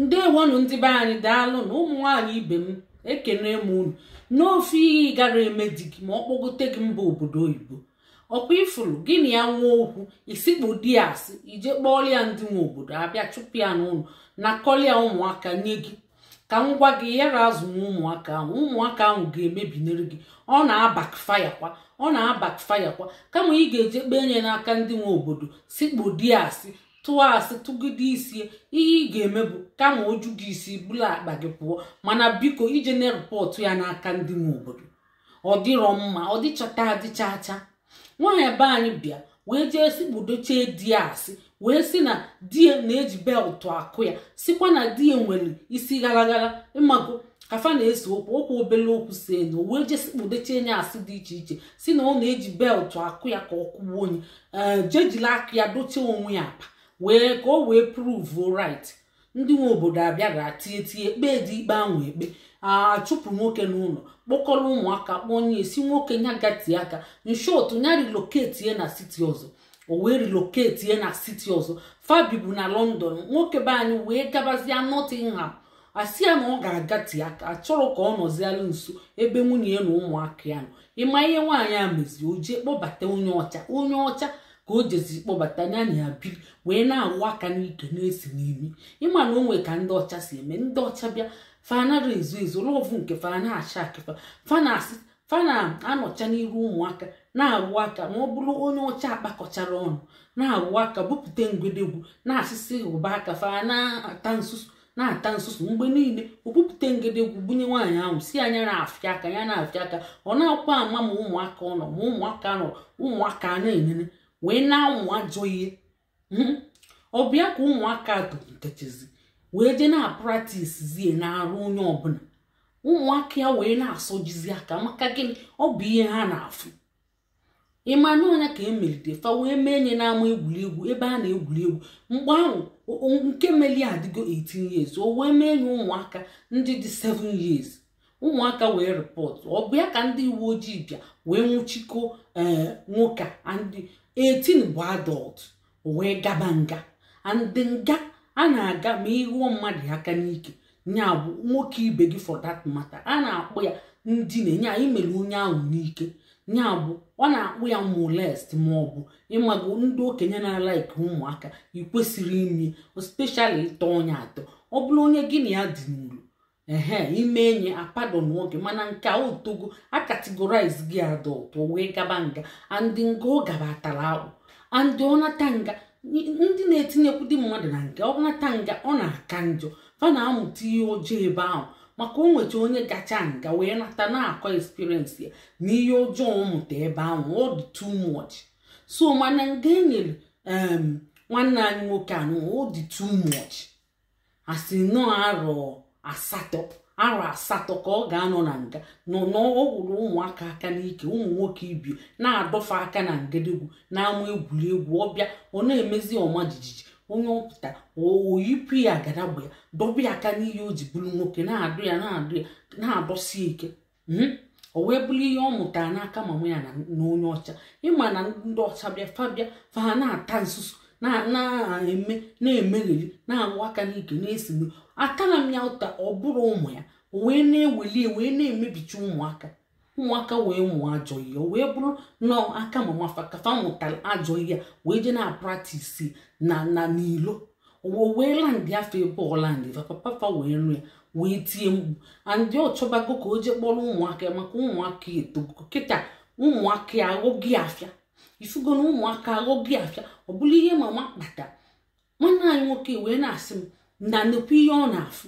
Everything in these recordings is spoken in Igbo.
ndewonụ ndị be anyị daalụnụ ụmụ nwaanyị ibe m ekenee m unu ofu ihe ị gara eme di gị ma ọ kpọgote gị mba obodo oyibo ọkwa ị fụrụ gị na ya nwee okwu i sikpo di asị i jee kpọọlụ ya ndị nwe obodo abịa chụpụ ya n'ụlọ nakọlịa ụmụaka nye gị ka m gwa gị ị yara azụnwu ụmụaka ahụ ụmụaka ahụ ga-emebinere gị ọ na-abackfire kwa ọ na-abackfire kwa kama ị ga-eje kpee nye n'aka ndị nwe obodo sikpo di asị tụọ asị tụgide isi ihe ị ga-eme bụ kama o ju gị isi bulu akpa gị pụọ mana biko ejena report ya n'aka ndị nwe obodo ọ dịrọ mma ọ dịchata adịchacha nwaanyị be anyị bịa wee jee sikpudochie di ya asị wee si na di ya na-eji beltụ akụ ya sikwa na di ya nwere isi garagara ịmago ka fa na-ese okwu okwu obele okwu seenụ wee jee sikpudochie nya asị dị iche iche si na ọ na-eji beltụ akụ ya ka ọ kwụwa onye ee je jila aka ya dochie onwe ya apa wee ka o wee prove right ndị nwe obodo abịara tie tie kpee dị ikpe ahụ ekpe achụpụ nwoke n'ụlọ kpọkọrọ ụmụaka kpọnye a sị nwoke nya gatee aka in short nya relocate na city ọzọ o wee relocate na city ọzọ fa bibu na london nwoke be anyị wee gabazie nottingham a sị ya na ọ ga-agate aka a chọrọ ka ọ nọzialụ nso ebe nwunye ya na ụmụaka ya nọ ị ma ihe nwaanyị a mezi o jee kpọbata onye ọcha onye ọcha ka o jeziri kpọbata nya na ya biri wee na-awụ aka n'ike na-esi n'imi ị ma na o nwee ka ndị ọcha si eme ndị ọcha bịa fa anara ezo ezo lọvụ nke fa na-ashakị fa fa na fa na-anọcha n'iru ụmụaka na-awụ aka ma ọ bụrụ onye ọcha akpakọchara ọnụ na-awụ aka bupụta ngwedegwu na-asịsị ụba aka fa na-ata nsusu na-ata nsusu mgbe niile o bupụta ngedegwu bunye nwaanyị ahụ sị nya na-afịa aka ya na-afịa aka ọ na-akwa ama ma ụmụaka ọ nọ ma ụmụaka nọ ụmụaka na-enene wee na-amụ ajọ ihe hmm? ọ bịa ka ụmụaka tolitechazi wee jee na-apratisizie na-arụ onye ọbụla ụmụaka ya wee na-asọjizi aka maka gịnị ọ bụ ihe ha na-afụ ị ma na ọ nya ka e melide fa wee mee nya n'ama egwuregwu ebe a na-egwuri egwu mgbe ahụ nke meli ya adịgo 18 years o wee mee nya ụmụaka ndị dị 7 years ụmụaka wee rịpọtụ ọ bụ ya ka ndị uwe ojii bịa wee nwụchikọ ee eh, nwoke and 18 bụ adult o wee gaba nga and nga a na-aga ma ị ghụọ mmadụ aka n'ike nya bụ nwoke ibe gị for that matter a na-akpọ ya ndina nya i mere onye ahụ n'ike nya bụ a na-akpọ ya molest ma ọ bụ ịmago ndị okenye na-alaiki ụmụaka i kwesịrị ime especially ị tọ onye atọ ọ bụrụ onye gị na ya dị n'ụlọ ehe i mee e nye ya pardon nwoke mana nke a o togo a categorize gị adult o wee gaba nga and nga ọ gaba atara akpụ and ọ nata nga n- ndị na-etinyekwudị mmadụ na nga ọ nata nga ọ na-aka njọ fa na-amụta ihe ọjọọ ebe ahụ maka o nweta onye gacha nga wee nata na-akọ experience ya na ihe ọjọọ ọ mụta ebe ahụ ọ dị too much so mana nga e nyere em, nwanne anyị nwoke anụ ọ dị too much a sị na arọ asatọ arọ asatọ ka ọ ga-anọ na nga na ọ gwụrụ ụmụaka aka n'ike ụmụ nwoke ibe ya na-adọ fa aka na ngedegwu n'ama egwuregwu ọ bịa ọ na-emezi ọma jijiji onye pụta o yipụ ya agadagba ya dọba ya aka n'ihe o ji bụrụ nwoke na-adọ ya na-adọ ya na-adọsi ike hmm? o wee bụrụ ihe ọ mụtara n'aka mama ya na onye ọcha ị ma na ndị ọcha bịa fa bịa fa ha na-ata nsusu na-eme na-emegheri na-awụ aka n'ike na-esigbu atara m ya ụta ọ bụrụ ụmụ ya wee na-eweli wee na-emebicha ụmụaka ụmụaka wee mụọ ajọ ihe wee bụrụ na aka mama fa ka fa mụtara ajọ ihe wee jee na-apractice na na n'ilo o wee landị fa ebe ọ landị fa papa fa wee nụ ya wee tie mkpu and ọ chọbago ka o jee kpọrọ ụmụaka ya maka ụmụaka etogo kịta ụmụaka ya aghọgo ya afịa ị fụgo na ụmụaka aghọgo ya afịa ọ bụrụ ihe mama kpata nwanne anyị nwoke wee na-asị m na nnukwu ihe ọ na-afụ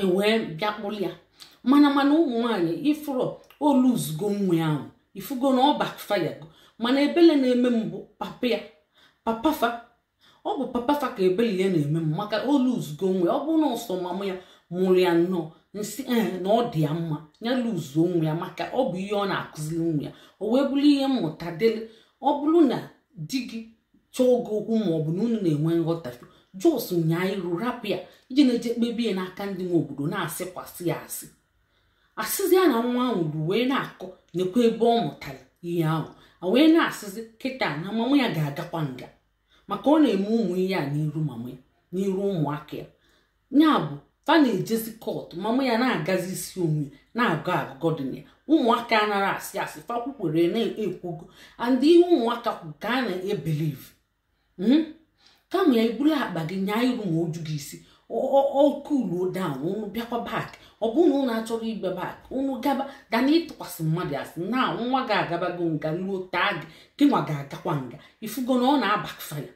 e wee bịa kpụrụ ya mana mana ụmụ nwaanyị ị fụrọ o losego nwa ahụ ị fụgo na ọ backfirego mana ebele na-eme m bụ papa ya papa fa ọ bụ papa fa ka ebele ya na-eme m maka o losego nwa ya ọ bụrụ na ọ sọ mama ya mụrụ ya nnọọ m sị ee na ọ dị ya mma ya lose nwa ya maka ọ bụ ihe ọ na-akụziri nwa ya o wee bụrụ ihe mmụta dịrị ọ bụrụ na di gị chọọ gị okwu ma ọ bụ na unu na-enwe nghọtafie just nyaa iru rapụ ya i ji na-eje kpebe ya n'aka ndị nwe obodo na-asịkwasị ya asị asịzi ya na nwa ahụ bụ wee na-akọ nekwa ebe ọ mụtara ihe ahụ a wee na-asịzi kịta na mama ya ga-agakwa nga maka ọ na-eme ụmụ ihe a n'iru mama ya n'iru ụmụaka ya ya bụ fa na-ejezi court mama ya na-agọzi isi onwe na-agọ agụgọ dị na ya ụmụaka anarọ asị asị fa kwukwere na-ekwugo and ihe ụmụaka kwu ka a na-ebelieve hmm? kama ya i buru akpa gị nyaa iru ma o ju gị isi ọ cool down unu bịakwa back ọ bụrụ na unu achọrọ ịbịa back unu gaba than ịtụkwasị mmadụ asị na nwa gị agabago nga ruo taa gị gị nwa ga-agakwa nga ị fụgo na ọ na-abackfire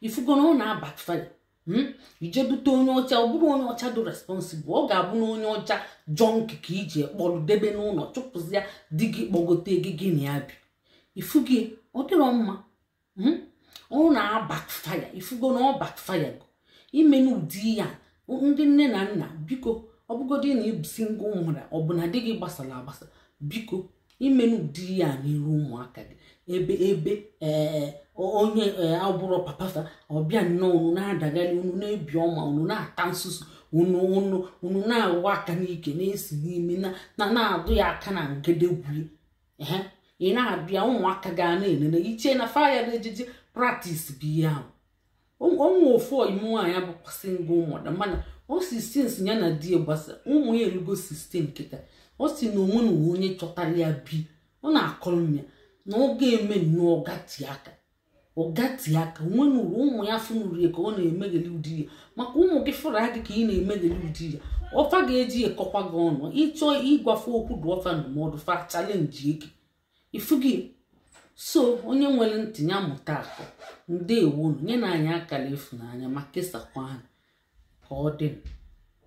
ị fụgo na ọ na-abackfire Hmm? i je bute onye ọcha ọ bụrụ onye ọcha dị responsible ọ ga-abụ na onye ọcha junkie ka i je kpọrọ debe n'ụlọ chụpụzia di gị kpọgote gị gị na ya bi ifu gị ọ dịrọ mma hmm? ọ na-abackfire ị fụgo na ọ backfire go emena ụdị ya ndị nne na nna biko ọ bụgodị na ị bụ single mother ọ bụ na di gị gbasara agbasa biko emena ụdị ya n'iru ụmụaka gị ebe ebe ee onye abụrọ papa fa ọ bịa nnọọ unu na-adagharị unu na-ebi ọma unu na-ata nsusu unu unu unu na-awa aka n'ike na-esi n'ime na na-adụ ya aka na ngedegwue ehe ị na-abịa ụmụaka ga na-enene i che na fa ya na-eje je practice bụ ihe ahụ o nwe ofu ọyị m nwaanyị bụkwa single mother mana ọ sị since ya na di gbasa ụmụ ya erugo 16 kịta ọ sị na o nwenurọ onye chọtara ya bi ọ na-akọrọ m ya na ọ ga-eme nnọọ ọ gatee aka ọ gatee aka o nwenurọ ụmụ ya fụnụrụ ya ka ọ na-emegheli ụdị ya maka ụmụ gị fụrụ gị ka ị na-emegheli ụdị ya ọ fa ga-eji ekọkwa gị ọnụ ị chọọ ịgwa fa okwu dụọ fa ndụmọdụ fa challenge-ie gị ifugi so onye nwere ntị ya mụta akọ ndeewonụ nyenụ anyị akara ịfụnanya ma kesakwa ha ka ọ dị